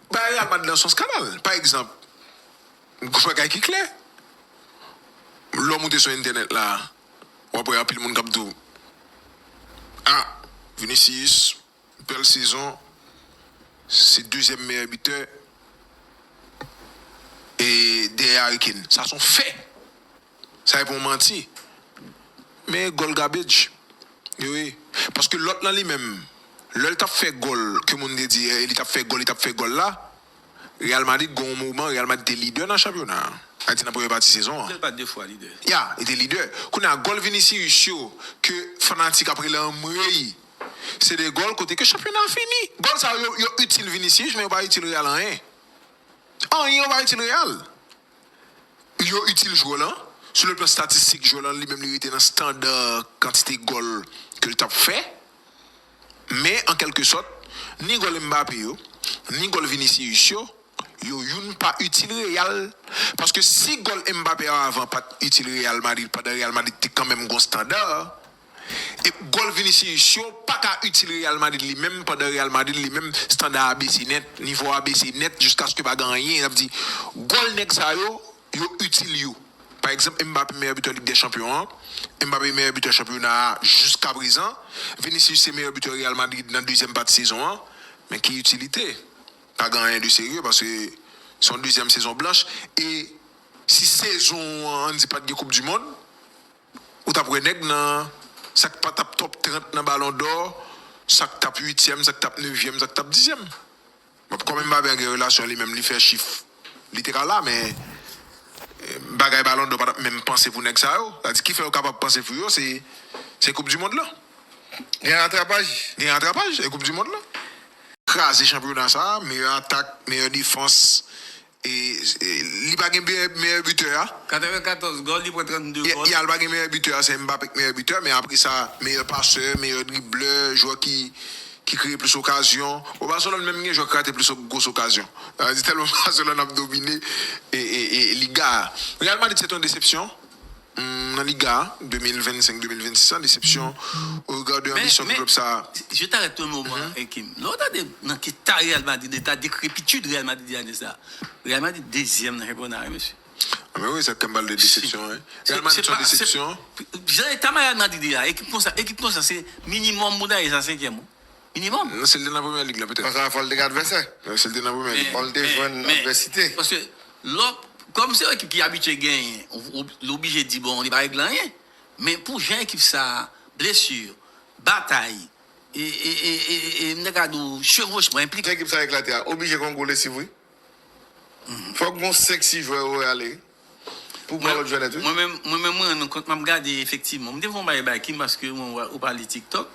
Bagay la pa t nan sans kanal. Pa egzanp, yon bagay ki klè, lè w moute sou entènèt la, w ap wè anpil moun k ap di w, A, Vinicius, bèl sezon, se dezyèm meyè bitè, dèyè Harry Kane. Sa se yon fè! Sa e pou manti. Men goal garbage. Wi wi. Paske lot lan li menm. Lel tap fe goal ke moun te di li tap fe goal li tap fe goal la. Real Madrid gon yon moman Real Madrid te lidè nan chanpyona. Sa di nan premye pati sezon an. Ya li te lidè. Kounya goal Vinicius yo ke fanatik ap rele anmreyy. Se 2 goal kote ke chanpyona fini. Goal sa yo yo itil Vinicius men yo pa itil Real anyen. Anyen yo pa itil Real. Yo itil jwè lan, sou le plan statistik jwè lan li menm li rete nan standa kantite gòl ke l t ap fè. Men an kèlke sòt, ni gòl Mbappé yo, ni gòl Vinicius yo, yo youn pa itil Real. Paske si gòl Mbappé yo avan pa t itil Real Madrid pandan Real Madrid te kanmenm gon standa. E gòl Vinicius yo paka itil Real Madrid li menm pandan Real Madrid li menm standa a bese nèt, nivo a bese nèt jiskaske pa gen anyen, sa vle di gòl nèg sa yo, yo itil yo. Pa egzanp Mbappé meyè bitè Lig dè Chanpyon an, Mbappé meyè bitè chanpyona a jiskaprezan, Vinicius se meyè bitè Real Madrid nan dezyèm pati sezon an, men ki itilite? Pa gen anyen de serye paske se yon dezyèm sezon blanch e si sezon an di pat gen koupdimond, Ou tap wè nèg nan sak pa tap top 30 nan balon dò, sak tap uityèm, sak tap nevyèm, sak tap dizyèm. Bon kòm Mbappé an gen relasyon li menm li fè chif li te ka la men bagay balon dò pa tap menm panse pou nèg sa yo. Sa di kifè yo kapab panse pou yo se koup dimond lan. Gen ratrapaj. Gen ratrapaj e koup dimond lan. Kraze chanpyona sa, meyè atak, meyè defans E li pa gen meyè bitè a. 94 gòl, li pran 32 gòl. Yal pa gen meyè bitè a, se Mbappe ki meyè bitè, men apre sa meyè pasè, meyè driblè, jwè ki kreye plis okazyon. Bon Barcelone menm gen jwè ki rate plis gwos okazyon. Sa vle di tèlman Barcelone ap domine Liga a. Real Madrid se te yon desepsyon. Nan Liga 2025-2026 la, desepsyon oregan de anbisyon pou klub sa a. Men, je t'arrête un moment, Kim. Lè w tande nan ki ta Real Madrid, eta dekrepitid Real Madrid ye ane sa a. Real Madrid dezyèm nan chanpyona a wi mesye. A men wi, sa Kim pale de desepsyon wi. Real Madrid son desepsyon. Jan eta Real Madrid ye a, ekip konsa, ekip konsa se minimòm pou ta ye sa senkyèm. minimòm. Si l te nan Premyè Lig la petèt. Konsa fò l te gen advèsè. Men si l te nan Premyè Lig. Fò l te jwenn advèsite. Paske lè w, kòm se yon ekip ki abitye genyen, li oblije di bon li pa regle anyen. Men pou jan ekip sa a, blesi, batay, e m ta ka di w chevwochman, enplikasyon. Jan ekip sa a eklate a, oblije gen yon gwo lesiv wi. Fòk gen yon 5, 6 jwè yo ale. Pou pran lòt jwèlèt wi. Mwen menm mwen menm mwen rann nou kont map gade efektivman m te fon bagay bay Kim paske mwen wè ou pale tiktok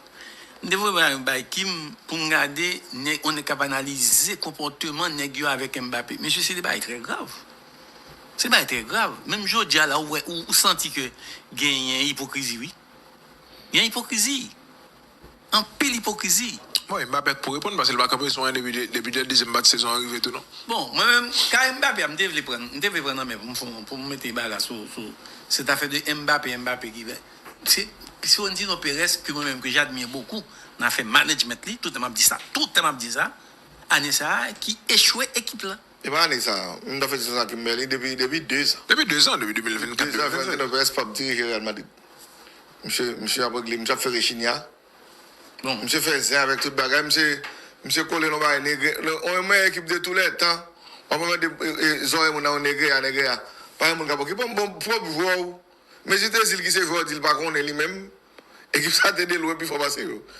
m te fon bagay bay Kim poum gade nèg on nèg kap analize konpòteman nèg yo avèk Mbappé mesye se de bagay trè grav se de bagay trè grav menm jodia la ou wè ou santi ke genyen ipokrizi wi gen ipokrizi. Anpil ipokrizi. Bon e Mbappé k pou reponn paske li pa kanpe sou anyen depi dè dezyèm pati sezon an rive tou non. Bon mwen menm kay Mbappé a m te vle prann m te vle prann nan men pou m fon pou m mete baga sou sou cette affaire de Mbappé Mbappé ki vè se Fiorentino Perez ke mwen menm ke j'admire beaucoup nan afè management li tout tan map di sa tout tan map di sa ane sa ki echwe ekip la. E pa ane sa m ta fè ti sezon ak Kimberly depi depi 2 zan. Depi 2 zan depi 2024 2025. 2 zan Fiorentino Perez pap dirije Real Madrid. Misye misye ap regle misye ap fè rechinya bon misye fè zen avèk tout bagay misye misye kole nan bagay negre on yon mèyè ekip de tou lè tan wap pran de zòrèy moun nan yon negreya negreya pa gen moun kap okipe w bon pwòp jwè w mezi te zil ki se jwè w di l pa konnen li menm ekip sa te de lwen pi fò pase yo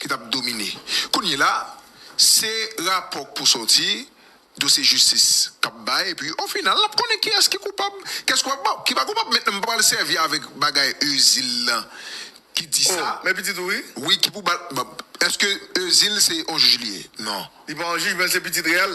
ki tap domine kounyela se rapò k pou sòti dosye jistis kap bay epi o final nap konnen kiyès ki koupab kiyès ki pa koupab mentnan m pral sèvi avèk bagay Euzyl lan ki di sa oh men pitit ou wi wi ki pou bal èske Euzyl se on jij li ye non li pa on jij men l se pitit reyèl.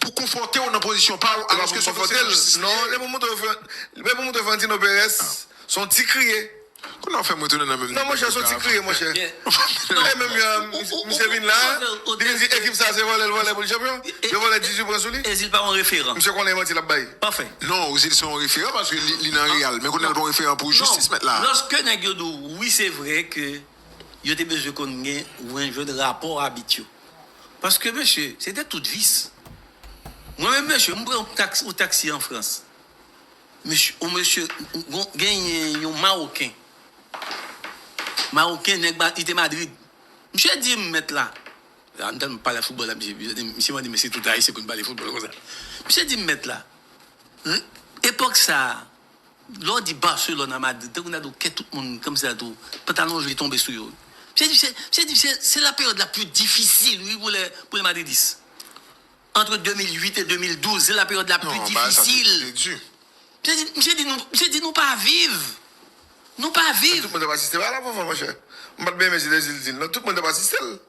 pou konfòte w nan pozisyon pa w alòske se konseye lajistis li ye. Lè pou montre Florentino Perez se yon ti kriye. Ou nan fèm retounen nan menm deba. Non monchè son ti kriye monchè. E menm jan misye vin la, li vin di ekip sa se vòlè l vòlè pou l chanpyon. Yo vòlè 18 pwen sou li. Ozil pa yon referan. Misye konnen e manti lap bay. Pafè. Non Ozil se yon referan paske li nan Real men kounye a l pa yon referan pou jistis mèt la. Lòske nèg yo di w wi se vre ke. Yo te bezwen konn gen wen jwenn rapò abit yo. Paske mesye, se te tout vis. Mwen menm mesye, m pran yon taksi, yon taksi an Frans. Mesye, yon mesye, gon, genyen yon mawoken. Mawoken, nèg ma, li te Madrid. Misye di m, mèt la, la m tèlman pale foutbòl ak misye, misye di m, misye mande m èske se tout ayisyen konn pale foutbòl konsa. Misye di m, mèt la, epòk sa a, Lè w di Barcelone a Madrid, tankou nan do kè tout moun kòmsi sa tou, pantalon joli tonbe sou yo. Misye di, misye di se la peryòd la pli difisil wi pou lè pou lè madridis. Antre 2008 e 2012, se la peryòd la pli difisil. Misye di, misye di nou, misye di nou pa viv. Nou pa viv. Tout moun t ap asiste a la fanfan monchè. M pa t byen renmen Zinedine Zidane non, tout moun t ap asiste l.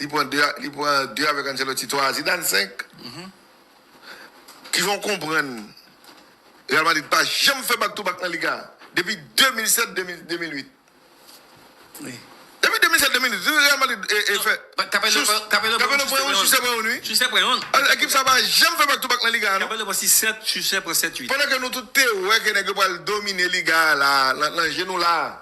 Li pran 2 li pran 2 avèk Ancelotti 3 a Zidane 5. Ki fè w konprann Real Madrid pa janm fè back to back nan Liga depi 2007 2000 2008. Wi. Depi 2007 2008 wi Real Madrid e e fè Capello Chus pran Capello pran Capello pran yon Chus pran youn wi. Chus pran youn. Al ekip sa pa janm fè back to back nan Liga a non. Capello pran 6 7 Chus pran 7 8. Pandan ke nou tout te wè ke nèg yo pral domine Liga a la nan je nou la.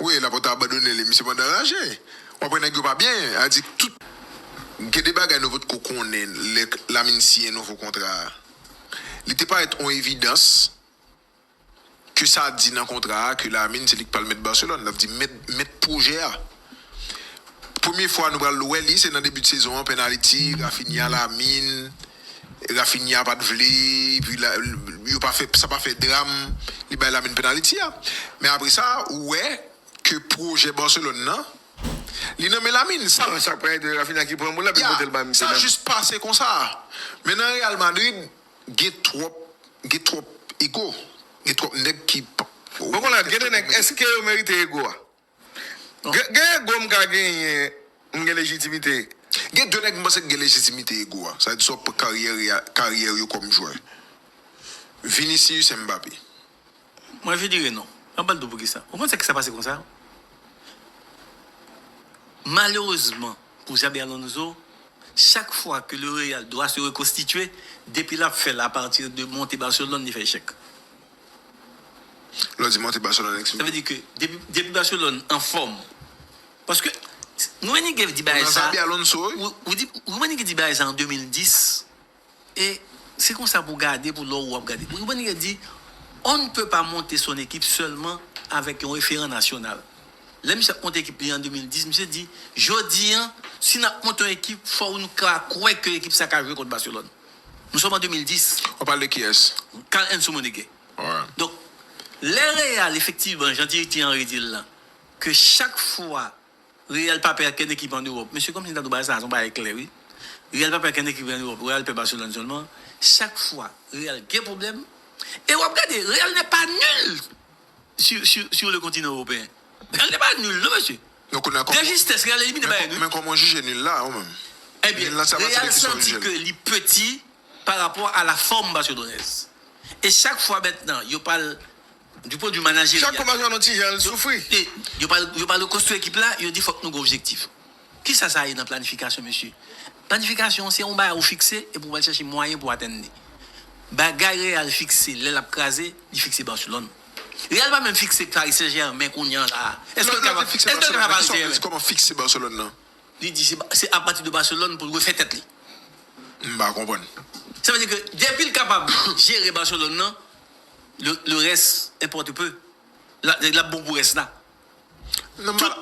Wi laporte abandone li misye pandan raje wap wè nèg yo pa byen a di tout. Gen de bagay nou potko konnen lè Lamine siyen nouvo kontra a li te parèt on evidans ke sa di nan kontra a ke Lamine se li ki pral mèt Barcelone lap di mèt mèt pwojè a premye fwa nou pral wè li se nan debi de sezon an penaliti Raphinha Lamine Rafinha pat vle epi yo pa fè sa pa fè dram li bay Lamine penaliti a men apre sa ou wè ke pwojè Barcelone nan li nan men Lamine sa jis pase konsa men nan Real Madrid gen twòp gen twòp ego gen twòp nèg ki. Bon konn la gen de nèg eske yo merite ego a. Gen ego m ka genyen m gen lejitimite. Gen 2 nèg m panse ki gen lejitimite ego a sa vle di sa w pran karyè yo kòm jwè Vinicius et Mbappé. Mwen vin dire non. Map bal do poukisa. Ou konn sa ki sa pase konsa? Malerezman pou Xabi Alonso, chak fwa ke le Real dwa se rekonstitye, depi lap fèl a pati de monte Barcelone li fè echèk. Lè w di monte Barcelone eksplike. Sa vle di ke depi Barcelone anfòm. Paske Rummenigge di bagay sa. Ou di bagay sa an 2010 e se konsa pou w gade pou lè w ap gade. Rummenigge di on ne peut pas monter son équipe seulement avec un référent national. Lè misye ap monte ekip li an 2010, misye di jodi an si n ap monte yon ekip fò nou ka kwè ke ekip sa ka jwe kont Barcelone. Nou sòm an 2010. Wap pale de kiyès? Carl Heinz Rummenigge. Alright. Donk, lè Real efektivman, jan Thierry Henry di l lan, ke chak fwa Real pa pè ankenn ekip an Ewòp, mesye kòmsi m ta di w bagay sa a se yon bagay klè wi. Real pa pè ankenn ekip an Ewòp, Real pè Barcelone sèlman. Chak fwa Real gen pwoblèm, e wap gade Real n'est pas nul sur sur sur le continent européen. Real n'est pas nul non mesye. Non kounya kòman. De justesse real elimine Bayern wi. Men kòman w jije nul la ou menm. Ebyen real santi ke li peti pa rapò a la fòm Barcelonais. E chak fwa mèt nan yo pral du pwen de vue manajeryal. Chak fwa map jwenn yon ti jan l soufri. Yo pral yo pral rekonstwi ekip la yo di fòk nou gen objektif. Kisa sa ye nan planifikasyon mesye? Planifikasyon se yon bagay ou fikse epi ou pral chache mwayen pou atenn li. Bagay real fikse lè lap kraze li fikse Barcelone. Real pa menm fikse Paris Saint Germain kounye an la. Eske l ka pa fikse Paris Saint Germain? Di kòman fikse Barcelone nan? Li di se a pati de Barcelone pou l refè tèt li. M pa konprann. Sa vle di ke depi l kapab jere Barcelone nan, le reste importe peu. L ap bon pou rès la.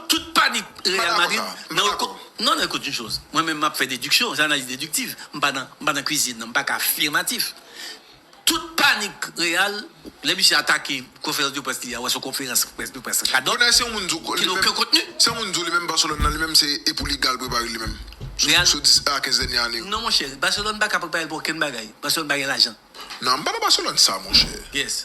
Tout panik Real Madrid nan yon kous. Non, non, ekout yon choz. Mwen menm map fè dediksyon, se analiz dediktiv. M pa nan, m pa nan kwizin nan, m pa ka afirmatif. Tout panik Real, lè misye atake konferans de près li a, wè son konferans de près radòt. Bonè se yon moun di w, ki gen oken kontni. Se yon moun di w li menm Barcelone nan, li menm se e pou li gal prepare li menm. Real. Sou 10 a 15 dènye ane yo. Non monchè, Barcelone pa ka prepare l pou okenn bagay. Barcelone pa gen lajan. Non, m pa nan Barcelone sa monchè. Yes.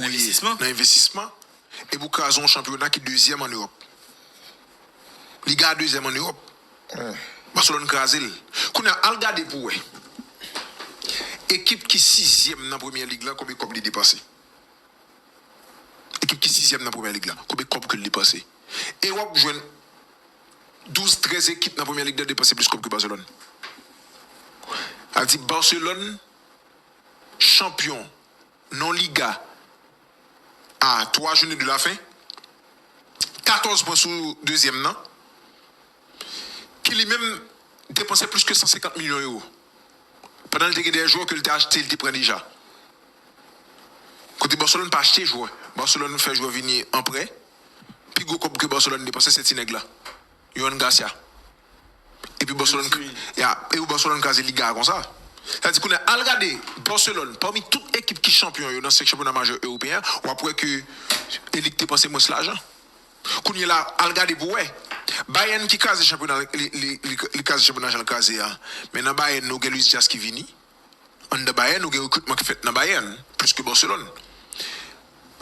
Nan envestisman e pou kraze yon chanpyona ki dezyèm an Ewòp. Liga a dezyèm an Ewòp. Baselòn kraze l. Kounye a, al gade pou w wè ekip ki sizyèm nan Premyè Lig la konbe kòb li depanse. Ekip ki sizyèm nan Premyè Lig la konbe kòb ke l depanse. Ewòp jwenn douz, trèz ekip nan Premyè Lig la depanse plis kòb ke Baselòn. Sa vle di Baselòn chanpyon. Non Liga a 3 joune de la fen, 14 pwen sou dezyèm nan ki li menm depanse plis ke 150 milyon ewo pandan li te gen dè jwè ke li te achte li te pran deja. Kote Barcelone pa achte jwè, Barcelone fè jwè vini an prè, pi gwo kòb ke Barcelone depanse se ti nèg la, Yohan Garcia. Epi Barcelone kraze Liga a konsa. Sa di kounye a al gade Barcelone pami tout ekip ki chanpyon yo nan 5 chanpyona majè ewopeyen an, w ap wè ke e li k te panse mwens lajan. Kounye la al gade pou w wè. Bayern ki kraze chanpyona li kraze chanpyona jan l kraze a. Men nan Bayern nou gen Luis Diaz ki vini. Anndan Bayern nou gen rekritman ki fèt nan Bayern plis ke Barcelone.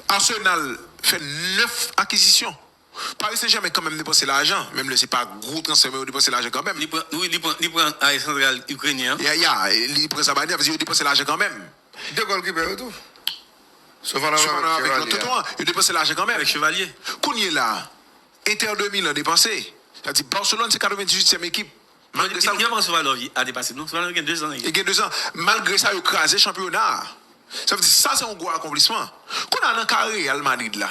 Arsenal fè 9 akizisyon. Paris Saint Germain kanmenm depanse lajan, menm lè se pa gwo transfè men yo depanse lajan kanmenm. Li pran ae santral Ikrenyen an. Ya ya, li pran Zabalnyi an, vle di yo depanse lajan kanmenm. 2 gòlkipè yo tou. Sofanow avèk Chevalier a. Tonton an, yo depanse lajan kanmenm. Avèk Chevalier. Kounyela, Inter de Milan depanse. Sa di Barcelone se 98 tièm ekip. Malgre sa. Yo pran Sofanow ane pase non. Sofanow gen 2 zan. Li gen 2 zan. Malgre sa yo kraze chanpyona a. Sa vle di sa se yon gwo akonplisman. Kounya nan ka Real Madrid la.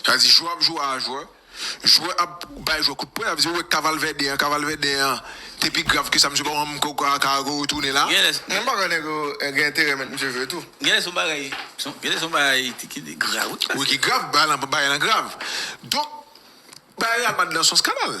Sa di jwè ap jwè a jwè, jwè ap bay jwè kout pwen, sa vle di ou wè ka Valverde an, ka Valverde an te pi grav ke sa, misye pa konn ko ka ka retounen la. Genlè s. Menm bagay nèg yo gen enterè met misye jwe tou. Genlè s son bagay, genlè s son bagay ki grav wi. Wi ki grav, bagay lan grav. Donk bagay Real Madrid lan son skandal.